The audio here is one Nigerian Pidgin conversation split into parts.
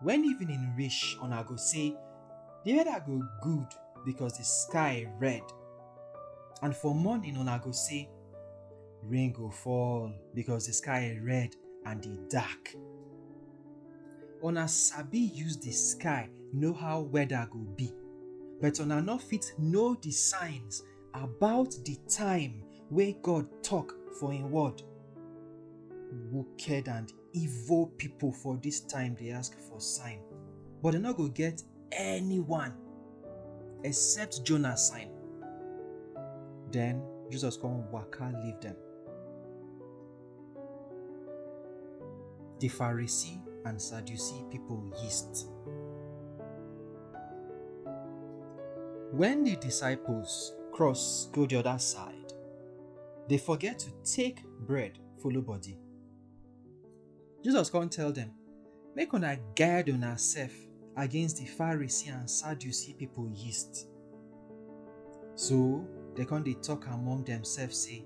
When evening reach, una go say, The weather go good because the sky red. And for morning, una go say, Rain go fall because the sky red and the dark. Una sabi use the sky know how weather go be, but una no fit know the signs about the time wey God talk for im word. Wicked and evil people for this time they ask for sign, but they not go get anyone except Jonah sign. Then Jesus come waka leave them. The Pharisee and Sadducee people yeast. When the disciples cross go the other side, they forget to take bread follow body. Jesus come tell them, Make una guide una self against the Pharisee and Sadducee people yeast. So they come they talk among themselves, say,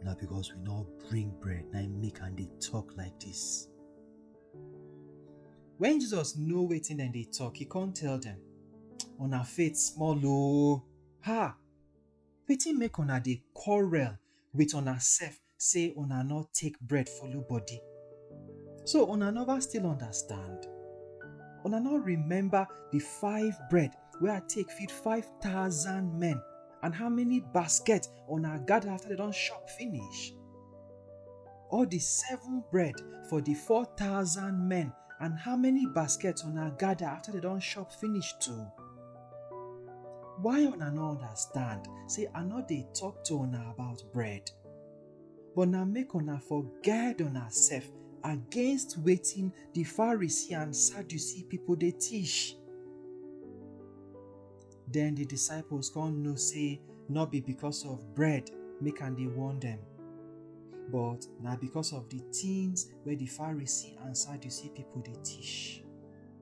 Now because we not bring bread, now make and they talk like this. When Jesus know waiting then they talk, he can't tell them, On our faith small low. Ha! Waiting make on they quarrel with on ourself say una no take bread follow body. So una never still understand? Una no remember the five bread wey I take feed five thousand men and how many basket una gather after they don chop finish? Or the seven bread for the four thousand men and how many basket una gather after they don chop finish too? Why una no understand say I no dey talk to una about bread? But na make una for guard una sef against wetin the Pharisee and Sadducee people dey teach. Then the disciples come know say no be because of bread make am dey warn them, but na because of the things wey the Pharisee and Sadducee people dey teach.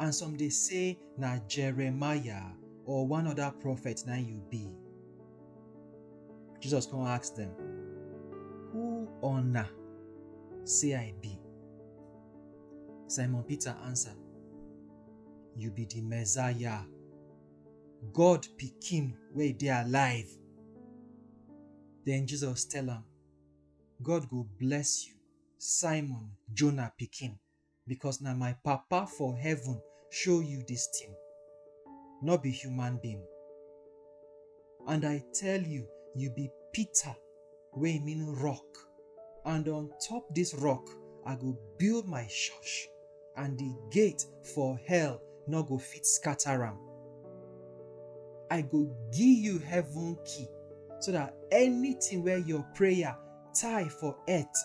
and some dey say na Jeremiah or one other prophet na you be. Jesus come ask them, Who una say I be? Simon Peter answer, You be the Messiah, God pikin wey dey alive. Then Jesus tell am, God go bless you, Simon Jonah pikin. because na my papa for heaven show you this thing no be human being and i tell you you be peter wey mean rock and on top this rock i go build my church and the gate for hell no go fit scatter am i go give you heaven key so that anything where your prayer tie for earth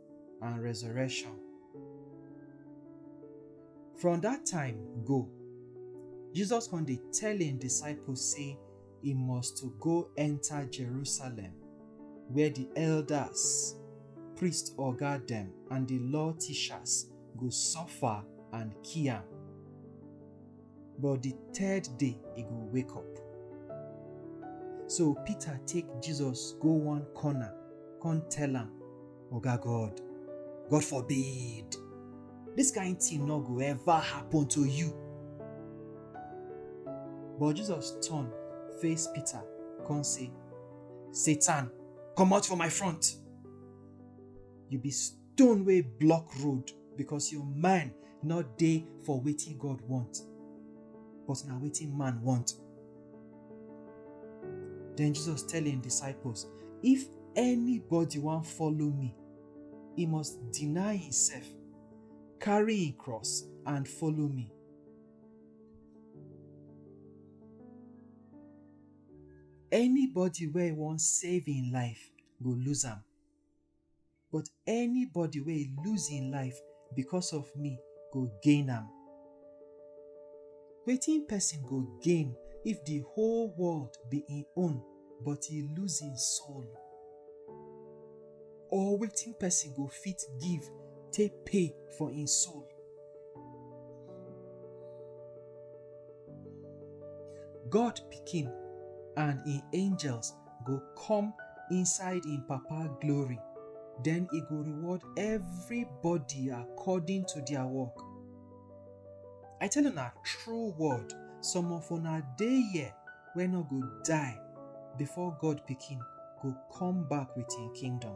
and resurrection. From dat time go, Jesus come dey tell im disciples sey e must to go enta Jerusalem where di elders, priest oga dem and di law teachers go suffer and kill am. but the third day he go wake up. So Peter take Jesus go one corner, come tell am, Oga God, God forbid, this kind thing no go ever happen to you. But Jesus turn face Peter, come say, Satan, comot for my front. You be stone wey block road because your mind no dey for wetin God want, but na wetin man want. Then Jesus tell him disciples, if anybody wan follow me, he must deny himself, carry him cross and follow me. Anybody wey wan save him life go lose am, but anybody wey lose im life because of me go gain am. Wetin person go gain if the whole world be im own but e lose im soul? Or wetin person go fit give take pay for im soul? God pikin and im angels go come inside im Papa glory, den e go reward everybody according to their work. I tell una true word, some of una dey here wey no go die before God Pikin go come back with im kingdom.